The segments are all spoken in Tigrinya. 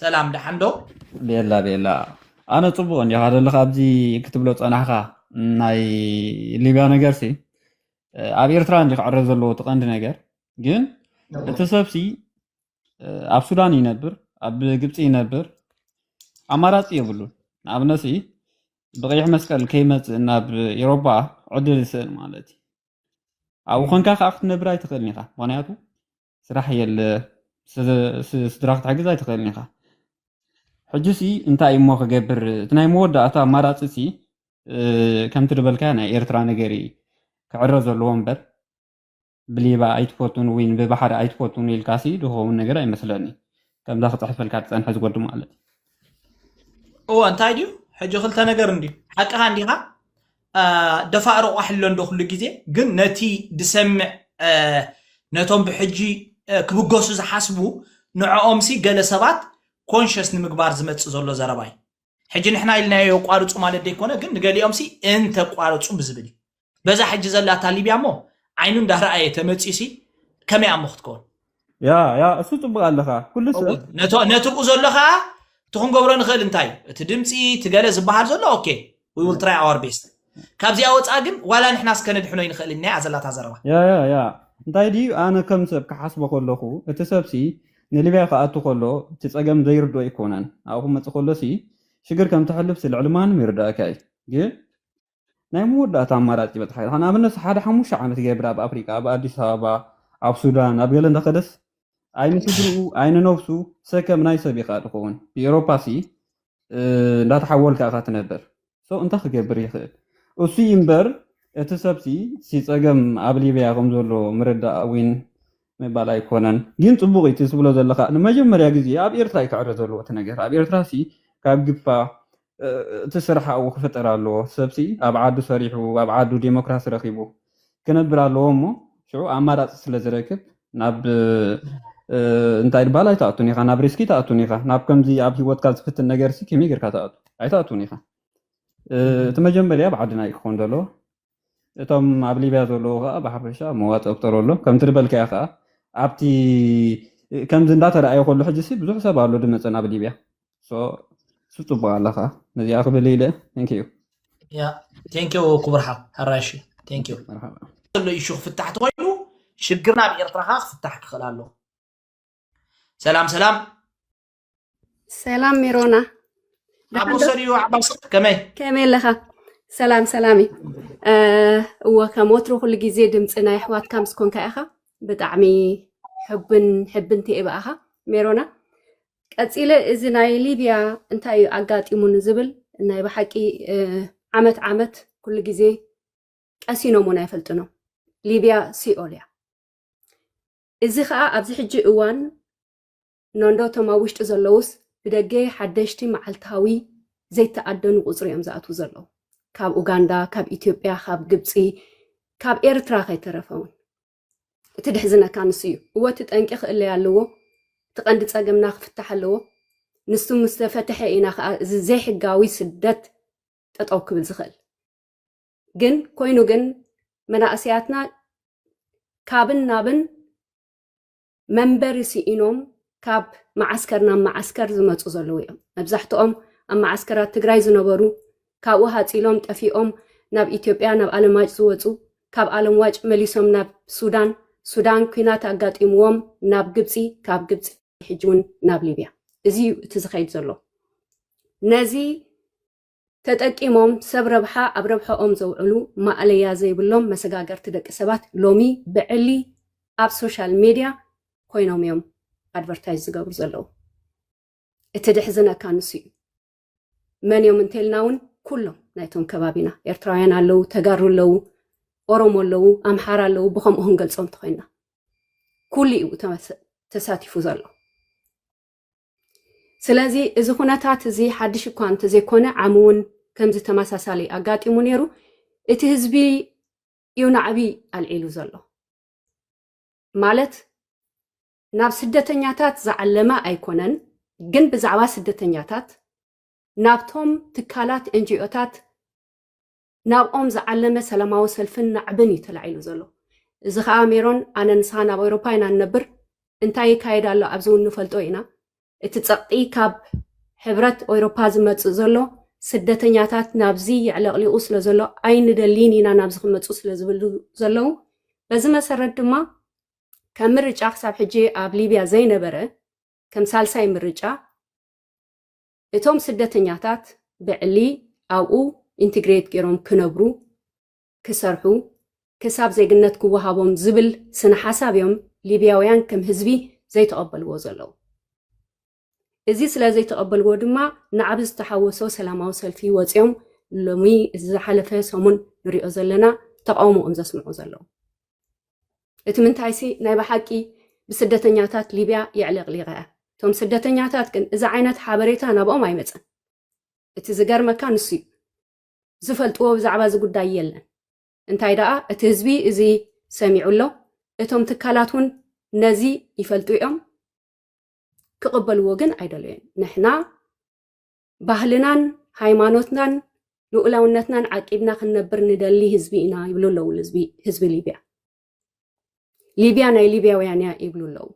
ሰላም ደሓን ዶ ቤላ ቤላ ኣነ ጽቡቕ እንዲኻ ዘለኻ ኣብዚ ክትብሎ ጸናሕካ ናይ ሊብያ ነገር ሲ ኣብ ኤርትራ እንዲ ክዕረ ዘለዎ እቲ ቀንዲ ነገር ግን እቲ ሰብሲ ኣብ ሱዳን ይነብር ኣብ ግብፂ ይነብር ኣማራፂ የብሉን ንኣብነት ብቀይሕ መስቀል ከይመፅእ ናብ ኤሮፓ ዕድል ይስእል ማለት እዩ ኣብኡ ኮንካ ከዓ ክትነብር ኣይትኽእልን ኢኻ ምክንያቱ ስራሕ የለ ስድራ ክትሕግዝ ኣይትኽእልን ኢኻ ሕጂ ሲ እንታይ እሞ ክገብር እቲ ናይ መወዳእታ ኣማራፂ ሲ ከምቲ ዝበልካዮ ናይ ኤርትራ ነገር እዩ ክዕረ ዘለዎ እምበር ብሊባ ኣይትፈቱን ወይ ብባሕሪ ኣይትፈቱን ኢልካሲ ዝኸውን ነገር ኣይመስለኒ ከምዛ ክፅሕፈልካ ዝፀንሐ ዝጎዲ ማለት እዎ እንታይ ድዩ ሕጂ ክልተ ነገር እንድዩ ሓቅኻ እንዲኻ ደፋእ ሮቋሕ ኣሎ እንዶ ኩሉ ግዜ ግን ነቲ ድሰምዕ ነቶም ብሕጂ ክብገሱ ዝሓስቡ ንዕኦምሲ ገለ ሰባት ኮንሸስ ንምግባር ዝመጽእ ዘሎ ዘረባ እዩ ሕጂ ንሕና ኢልናዮ የቋርጹ ማለት ደይኮነ ግን ንገሊኦምሲ እንተቋርጹ ብዝብል እዩ በዛ ሕጂ ዘላታ ሊብያ እሞ ዓይኑ እንዳረኣየ ተመጽዩሲ ከመይ ኣሞ ክትከውን ያ ያ እሱ ጽቡቅ ኣለኻ ኩሉ ሰብ እወ ነቶ- ነትርኡ ዘሎ ከዓ እቲ ክንገብሮ ንኽእል እንታይ እዩ? እቲ ድምፂ እቲ ገለ ዝበሃል ዘሎ ኦኬ ዊ ዊል ትራይ ኣወር ቤስት ካብዚኣ ወፃእ ግን ዋላ ንሕና እስከ ነድሕኖ ይንኽእል ኢና እያ ዘላታ ዘረባ ያ ያ ያ እንታይ ድዩ ኣነ ከም ሰብ ክሓስቦ ከለኹ እቲ ሰብሲ ንሊብያ ክኣቱ ከሎ እቲ ጸገም ዘይርድኦ ኣይኮነን ኣብኡ ክመጽእ ከሎሲ ሽግር ከም ተሕልፍሲ ልዕሊ ማንም ይርዳእካ እዩ ግን ናይ መወዳእታ ኣማራጺ በጽሓ። ንኣብነት ሓደ ሓሙሽተ ዓመት ገብረ ኣብ ኣፍሪቃ፣ ኣብ ኣዲስ ኣበባ፣ ኣብ ሱዳን፣ ኣብ ገለ እንተኸደስ ኣይ ንስድርኡ ኣይ ንነብሱ ሰከም ናይ ሰብ ኢኻ ትኸውን። ብኤሮፓሲ እንዳተሓወልካ ኢኻ ትነብር። ሶ እንታይ ክገብር ይኽእል? እሱ እዩ እምበር እቲ ሰብሲ ሲ ጸገም ኣብ ሊብያ ከም ዘሎ ምርዳእ ዊን ምባል ኣይኮነን። ግን ጽቡቕ እቲ ትብሎ ዘለኻ ንመጀመርያ ግዜ ኣብ ኤርትራ እዩ ክዕረ ዘለዎ እቲ ነገር። ኣብ ኤርትራሲ ካብ ግፋ እቲ ስራሕ ኣብኡ ክፍጠር ኣለዎ። ሰብሲ ኣብ ዓዱ ሰሪሑ ኣብ ዓዱ ዴሞክራሲ ረኺቡ ክነብር ኣለዎ እሞ ሽዑ ኣማራጺ ስለ ዝረክብ ናብ እንታይ ድባል ኣይትኣቱን ኢኻ ናብ ሪስኪ ትኣቱን ኢኻ ናብ ከምዚ ኣብ ሂወትካ ዝፍትን ነገርሲ ከመይ ጌርካ ትኣቱ ኣይትኣቱን ኢኻ እቲ መጀመርያ ኣብ ዓድና እዩ ክኾን ዘለዎ እቶም ኣብ ሊብያ ዘለዉ ከዓ ብሓፈሻ መዋፅ እፍጠሩ ኣሎ ከምቲ ዝበልካዮ ከዓ ኣብቲ ከምዚ እንዳተረኣየ ከሉ ሕጂ ሲ ብዙሕ ሰብ ኣሎ ድመፀን ኣብ ሊብያ ሶ እሱ ፅቡቅ ኣለ ከዓ ነዚኣ ክብል ኢለ ንኪዩ ያ ቴንኪው ክቡር ሓው ሓራሽ ቴንኪው መርሓባ ዘሎ ኢሹ ክፍታሕ ተኮይኑ ሽግርና ኣብ ኤርትራ ከዓ ክፍታሕ ክኽእል ኣለዎ ሰላም ሰላም ሰላም ሜሮና ኣብ ወሰድዮ ዓባስ ከመይ ከመይ ኣለኻ ሰላም ሰላም እዩ እወ ከም ወትሮ ኩሉ ግዜ ድምፂ ናይ ኣሕዋትካ ምስ ኮንካ ኢኻ ብጣዕሚ ሕብን ሕብንቲ እየ ብኣኻ ሜሮና ቀፂለ እዚ ናይ ሊብያ እንታይ እዩ ኣጋጢሙ ንዝብል ናይ ብሓቂ ዓመት ዓመት ኩሉ ግዜ ቀሲኖም እውን ኣይፈልጥኖም ሊብያ ሲኦል እያ እዚ ከዓ ኣብዚ ሕጂ እዋን ኖንዶ እቶም ኣብ ውሽጢ ዘለዉስ ብደገ ሓደሽቲ መዓልታዊ ዘይተኣደኑ ቁጽሪ እዮም ዝኣትዉ ዘለዉ ካብ ኡጋንዳ ካብ ኢትዮጵያ ካብ ግብጺ ካብ ኤርትራ ከይተረፈ እውን እቲ ድሕዝነካ ንሱ እዩ እወ እቲ ጠንቂ ክእለይ ኣለዎ እቲ ቀንዲ ጸገምና ክፍታሕ ኣለዎ ንሱ ምስ ተፈትሐ ኢና ከዓ እዚ ዘይሕጋዊ ስደት ጠጠው ክብል ዝኽእል ግን ኮይኑ ግን መናእሰያትና ካብን ናብን መንበሪ ስኢኖም ካብ መዓስከር ናብ መዓስከር ዝመፁ ዘለዉ እዮም። መብዛሕትኦም ኣብ መዓስከራት ትግራይ ዝነበሩ ካብኡ ሃፂሎም ጠፊኦም ናብ ኢትዮጵያ ናብ ኣለምዋጭ ዝወፁ ካብ ኣለምዋጭ መሊሶም ናብ ሱዳን ሱዳን ኩናት ኣጋጢምዎም ናብ ግብፂ ካብ ግብፂ ሕጂ እውን ናብ ሊብያ እዚ እዩ እቲ ዝኸይድ ዘሎ ነዚ ተጠቂሞም ሰብ ረብሓ ኣብ ረብሐኦም ዘውዕሉ ማእለያ ዘይብሎም መሰጋገርቲ ደቂ ሰባት ሎሚ ብዕሊ ኣብ ሶሻል ሜድያ ኮይኖም እዮም ኣድቨርታይዝ ዝገብሩ ዘለዉ። እቲ ድሕዝነካ ንሱ እዩ። መን እዮም እንተልና እውን ኩሎም ናይቶም ከባቢና ኤርትራውያን ኣለዉ፣ ተጋሩ ኣለዉ፣ ኦሮሞ ኣለዉ፣ ኣምሓራ ኣለዉ፣ ብከምኡ ክንገልፆም እንተኮይንና ኩሉ እዩ ተሳቲፉ ዘሎ። ስለዚ እዚ ኩነታት እዚ ሓድሽ እኳ እንተዘይኮነ ዓሚ እውን ከምዚ ተመሳሳሊ ኣጋጢሙ ነይሩ እቲ ህዝቢ እዩ ናዕቢ ኣልዒሉ ዘሎ ማለት ናብ ስደተኛታት ዝዓለመ ኣይኮነን ግን ብዛዕባ ስደተኛታት ናብቶም ትካላት ኤንጂኦታት ናብኦም ዝዓለመ ሰላማዊ ሰልፍን ናዕብን እዩ ተላዒሉ ዘሎ። እዚ ከኣ ሜሮን ኣነ ንስኻን ኣብ ኣውሮፓ ኢና ንነብር እንታይ ይካየድ ኣሎ ኣብዚ እውን ንፈልጦ ኢና እቲ ጸቕጢ ካብ ሕብረት ኦይሮፓ ዝመጽእ ዘሎ ስደተኛታት ናብዚ የዕለቕሊቑ ስለ ዘሎ ኣይንደልይን ኢና ናብዚ ክመጹ ስለ ዝብሉ ዘለዉ በዚ መሰረት ድማ ከም ምርጫ ክሳብ ሕጂ ኣብ ሊብያ ዘይነበረ ከም ሳልሳይ ምርጫ እቶም ስደተኛታት ብዕሊ ኣብኡ ኢንትግሬት ገይሮም ክነብሩ፣ ክሰርሑ፣ ክሳብ ዜግነት ክወሃቦም ዝብል ስነ ሓሳብ እዮም ሊብያውያን ከም ህዝቢ ዘይተቐበልዎ ዘለዉ። እዚ ስለ ዘይተቐበልዎ ድማ ናዕቢ ዝተሓወሶ ሰላማዊ ሰልፊ ወጺኦም ሎሚ እዚ ዝሓለፈ ሰሙን ንሪኦ ዘለና ተቓውሞኦም ዘስምዑ ዘለዉ። እቲ ምንታይሲ ናይ ብሓቂ ብስደተኛታት ሊብያ የዕለቕሊቐ እያ። እቶም ስደተኛታት ግን እዚ ዓይነት ሓበሬታ ናብኦም ኣይመጸን። እቲ ዝገርመካ ንሱ እዩ። ዝፈልጥዎ ብዛዕባ እዚ ጉዳይ የለን። እንታይ ደኣ እቲ ህዝቢ እዚ ሰሚዑ ኣሎ፣ እቶም ትካላት እውን ነዚ ይፈልጡ እዮም፣ ክቕበልዎ ግን ኣይደለዩን። ንሕና ባህልናን ሃይማኖትናን ልኡላውነትናን ዓቂብና ክንነብር ንደሊ ህዝቢ ኢና ይብሉ ኣለዉ ህዝቢ ሊብያ ሊብያ ናይ ሊብያውያን እያ ይብሉ ኣለዉ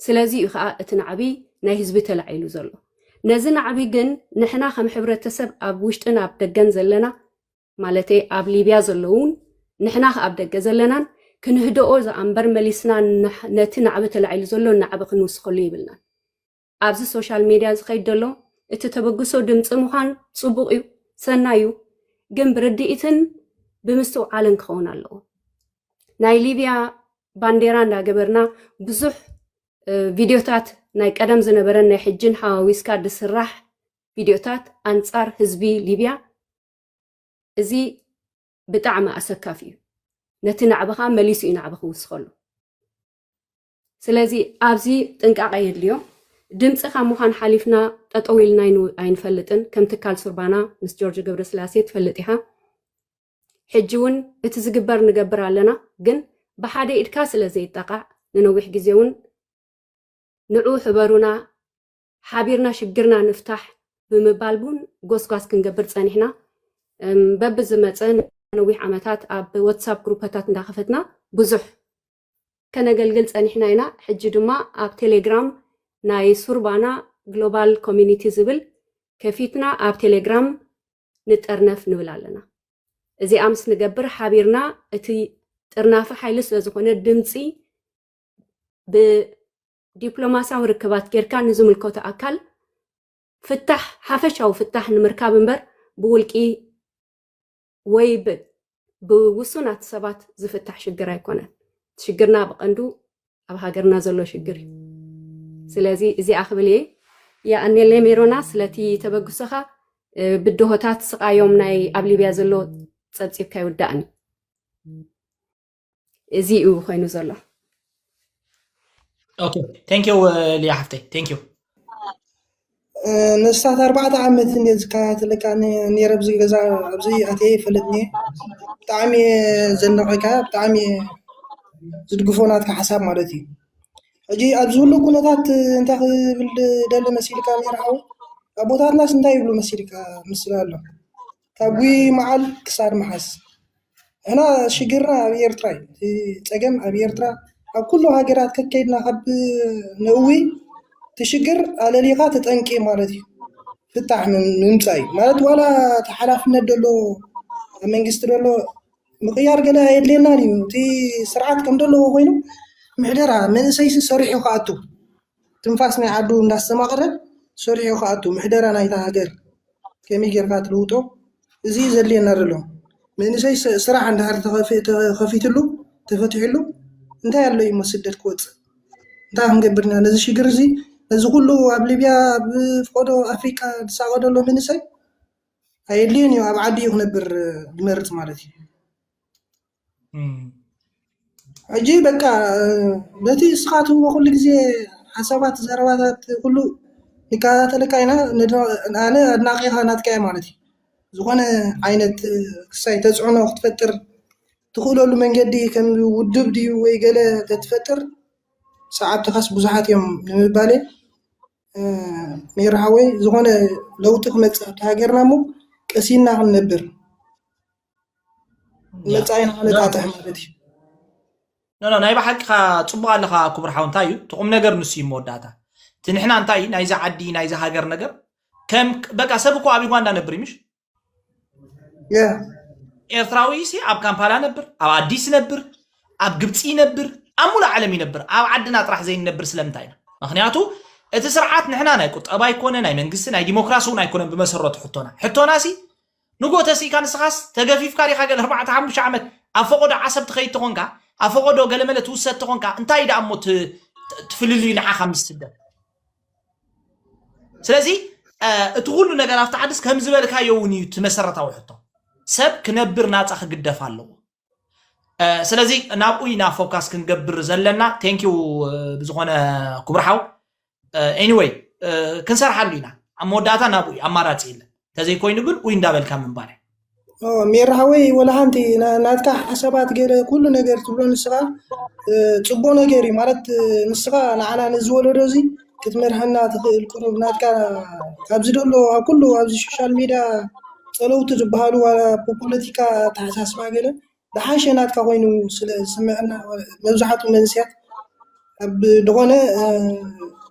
ስለዚ እዩ ከዓ እቲ ናዕቢ ናይ ህዝቢ ተላዒሉ ዘሎ ነዚ ናዕቢ ግን ንሕና ከም ሕብረተሰብ ኣብ ውሽጥን ኣብ ደገን ዘለና ማለት ኣብ ሊብያ ዘለውን ንሕና ከዓ ኣብ ደገ ዘለናን ክንህደኦ ዝኣንበር መሊስና ነቲ ናዕቢ ተላዒሉ ዘሎ ናዕቢ ክንውስኸሉ ይብልናን ኣብዚ ሶሻል ሜድያ ዝኸይድ ዘሎ እቲ ተበግሶ ድምፂ ምዃን ፅቡቕ እዩ፣ ሰናይ እዩ፣ ግን ብርድኢትን ብምስትውዓልን ክኸውን ኣለዎ። ናይ ሊብያ ባንዴራ እንዳገበርና ብዙሕ ቪድዮታት ናይ ቀደም ዝነበረን ናይ ሕጅን ሓዋዊስካ ዝስራሕ ቪድዮታት ኣንፃር ህዝቢ ሊብያ እዚ ብጣዕሚ ኣሰካፊ እዩ። ነቲ ናዕብኻ መሊሱ እዩ ናዕቢ ክውስኸሉ። ስለዚ ኣብዚ ጥንቃቐ የድልዮ። ድምጺ ካብ ምዃን ሓሊፍና ጠጠው ኢልና ኣይንፈልጥን። ከም ትካል ሱርባና ምስ ጆርጆ ገብረስላሴ ትፈልጥ ኢኻ። ሕጂ እውን እቲ ዝግበር ንገብር ኣለና፣ ግን ብሓደ ኢድካ ስለ ዘይጠቓዕ ንነዊሕ ግዜ እውን ንዑ ሕበሩና ሓቢርና ሽግርና ንፍታሕ ብምባል እውን ጎስጓስ ክንገብር ጸኒሕና። በብዝመጸ ነዊሕ ዓመታት ኣብ ወትሳፕ ግሩፐታት እንዳኸፈትና ብዙሕ ከነገልግል ጸኒሕና ኢና፣ ሕጂ ድማ ኣብ ቴሌግራም ናይ ሱርባና ግሎባል ኮሚኒቲ ዝብል ከፊትና ኣብ ቴሌግራም ንጠርነፍ ንብል ኣለና። እዚኣ ምስ ንገብር ሓቢርና እቲ ጥርናፊ ሓይሊ ስለ ዝኾነ ድምጺ ብዲፕሎማስያዊ ርክባት ጌርካ ንዝምልከቶ ኣካል ፍታሕ ሓፈሻዊ ፍታሕ ንምርካብ እምበር ብውልቂ ወይ ብውሱናት ሰባት ዝፍታሕ ሽግር ኣይኮነን። ሽግርና ብቐንዱ ኣብ ሃገርና ዘሎ ሽግር እዩ። ስለዚ እዚኣ ክብል እየ። የኣኔለ ሜሮና ስለቲ ተበግሶኻ ብድሆታት ስቓዮም ናይ ኣብ ሊብያ ዘሎ ጸብጺብካ ይውዳእኒ። እዚ እዩ ኮይኑ ዘሎ ኦኬ ቴንክ ዩ ሊያ ሓፍተይ ቴንክ ዩ ንስታት ኣርባዕተ ዓመት እንደ ዝከታተለካ ነረ ኣብዚ ገዛ ኣብዚ ኣትየ ይፈልጥኒ ብጣዕሚ ዘናቀካ ብጣዕሚ ዝድግፎ ናትካ ሓሳብ ማለት እዩ ሕጂ ኣብዚ ሁሉ ኩነታት እንታይ ክብል ደሊ መሲልካ ሜርዓዊ ኣቦታትናስ እንታይ ይብሉ መሲልካ ምስላ ኣሎ ካብ ጉይይ ማዓል ክሳድ ማሓዝ ንሕና ሽግርና ኣብ ኤርትራ እዩ እቲ ፀገም ኣብ ኤርትራ ኣብ ኩሉ ሃገራት ከከድና ካብ ነእዊ እቲ ሽግር ኣለሊካ ተጠንቂ ማለት እዩ ፍታሕ ምምፃእ እዩ ማለት ዋላ እቲ ሓላፍነት ዘሎ ኣብ መንግስቲ ዘሎ ምቅያር ገለ ኣየድልየናን እዩ እቲ ስርዓት ከም ዘለዎ ኮይኑ ምሕደራ መንእሰይሲ ሰሪሑ ክኣቱ ትንፋስ ናይ ዓዱ እንዳስተማቕረ ሰሪሑ ክኣቱ ምሕደራ ናይታ ሃገር ከመይ ጌርካ ትልውጦ እዚ እዩ ዘድልየና ዘሎ መንእሰይ ስራሕ እንድሕር ተኸፊትሉ ተፈቲሕሉ እንታይ ኣሎ እሞ ስደት ክወፅእ እንታይ ክንገብር ኢና ነዚ ሽግር እዚ ነዚ ኩሉ ኣብ ሊብያ ኣብ ፍቖዶ ኣፍሪቃ ዝሳቐ ዘሎ መንእሰይ ኣየድልዮን እዩ ኣብ ዓዱ እዩ ክነብር ዝመርፅ ማለት እዩ። ሕጂ በቃ ነቲ እስኻ ትህቦ ኩሉ ግዜ ሓሳባት ዘረባታት ኩሉ ንከታተለካ ኢና ኣነ ኣድናቂኻ ናትካ እየ ማለት እዩ ዝኾነ ዓይነት ክሳይ ተፅዕኖ ክትፈጥር ትኽእለሉ መንገዲ ከም ውድብ ድዩ ወይ ገለ ተትፈጥር ሰዓብትኻስ ብዙሓት እዮም ንምባለይ ሜሪ ሓወይ ዝኾነ ለውጢ ክመፅእ ኣብታ ሃገርና እሞ ቀሲንና ክንነብር። መፃኢ ንክነጣጥሕ ማለት እዩ ኖ ናይ ባሓቂኻ ጽቡቕ ኣለኻ ክቡር ሓው እንታይ እዩ እቲ ቁም ነገር ንሱ እዩ መወዳእታ እቲ ንሕና እንታይ እዩ ናይዚ ዓዲ ናይዚ ሃገር ነገር ከም በቃ ሰብ እኮ ኣብ ዩጋንዳ ነብር እዩ ምሽ ያ ኤርትራዊ ሲ ኣብ ካምፓላ ነብር ኣብ ኣዲስ ነብር ኣብ ግብፂ ይነብር ኣብ ሙሉእ ዓለም ይነብር ኣብ ዓድና ጥራሕ ዘይንነብር ስለምንታይ ኢና ምክንያቱ እቲ ስርዓት ንሕና ናይ ቁጠባ ኣይኮነ ናይ መንግስቲ ናይ ዲሞክራሲ እውን ኣይኮነን ብመሰረቱ ሕቶና ሕቶና ሲ ንግሆ ተሲእካ ንስኻስ ተገፊፍካ ዲኻ ገለ ኣርባዕተ ሓሙሽተ ዓመት ኣብ ፈቖዶ ዓሰብ ትኸይድ ተኾንካ ኣብ ፈቖዶ ገለመለ ትውሰድ ተኾንካ እንታይ ደኣ እሞ ትፍልልዩ ንዓኻ ምስ ስደት ስለዚ እቲ ኩሉ ነገር ኣብቲ ዓድስ ከም ዝበልካዮ እውን እዩ እቲ መሰረታዊ ሕቶ ሰብ ክነብር ናፃ ክግደፍ ኣለዎ ስለዚ ናብኡ ኢና ፎካስ ክንገብር ዘለና ቴንክ ዩ ብዝኾነ ክቡር ሓው ኤኒወይ ክንሰርሓሉ ኢና ኣብ መወዳእታ ናብኡ እዩ ኣማራፂ የለን ተዘይኮይኑ ግን ኡይ እንዳበልካ ምንባር ሜራ ሓወይ ወላ ሓንቲ ናትካ ሓሳባት ገለ ኩሉ ነገር ትብሎ ንስኻ ፅቡቅ ነገር እዩ ማለት ንስኻ ንዓና ነዚ ወለዶ እዚ ክትመርሓና ትኽእል ቅሩብ ናትካ ካብዚ ደሎ ኣብ ኩሉ ኣብዚ ሶሻል ሚድያ ጸለውቲ ዝበሃሉ ዋላ ብፖለቲካ ኣተሓሳስባ ገለ ዝሓሸ ናትካ ኮይኑ ስለ ዝስመዐና መብዛሕትኡ መንእሰያት ኣብ ዝኾነ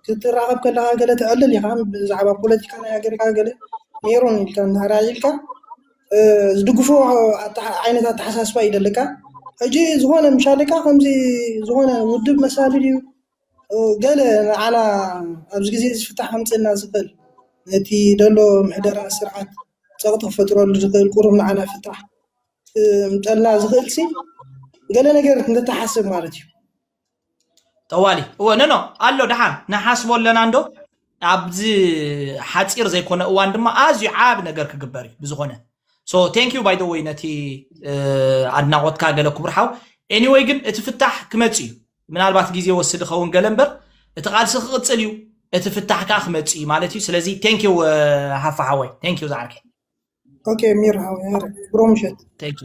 ክትራኸብ ከለኻ ገለ ተዕልል ኢኻ ብዛዕባ ፖለቲካ ናይ ሃገርካ ገለ ኔሩ ኢልካ እንድሕር ኢልካ ዝድግፎ ዓይነት ኣተሓሳስባ እዩ ዘለካ ሕጂ ዝኾነ ምሻለካ ከምዚ ዝኾነ ውድብ መሳሊ ድዩ? ገለ ንዓና ኣብዚ ግዜ እዚ ፍታሕ ከምፀና ዝኽእል ነቲ ዘሎ ምሕደራ ስርዓት ፀቕጢ ክፈጥረሉ ዝኽእል ቁሩብ ንዓና ፍታሕ ክምጠልና ዝኽእል ሲ ገለ ነገር እንተተሓስብ ማለት እዩ። ጠዋሊ እወ ነኖ ኣሎ ደሓን ንሓስቦ ኣለና እንዶ ኣብዚ ሓፂር ዘይኮነ እዋን ድማ ኣዝዩ ዓብ ነገር ክግበር እዩ ብዝኾነ ሶ ቴንክ ዩ ባይ ወይ ነቲ ኣድናቖትካ ገለ ክቡር ሓው ኤኒወይ ግን እቲ ፍታሕ ክመፅ እዩ ምናልባት ግዜ ይወስድ ይኸውን ገለ እምበር እቲ ቃልሲ ክቕፅል እዩ እቲ ፍታሕ ከዓ ክመፅእ እዩ ማለት እዩ ስለዚ ቴንኪው ሃፋ ሓወይ ቴንኪው ዝዓርከይ ኦኬ ሚር ሃወ ያረ ብሮ ምሸት ቴንኪው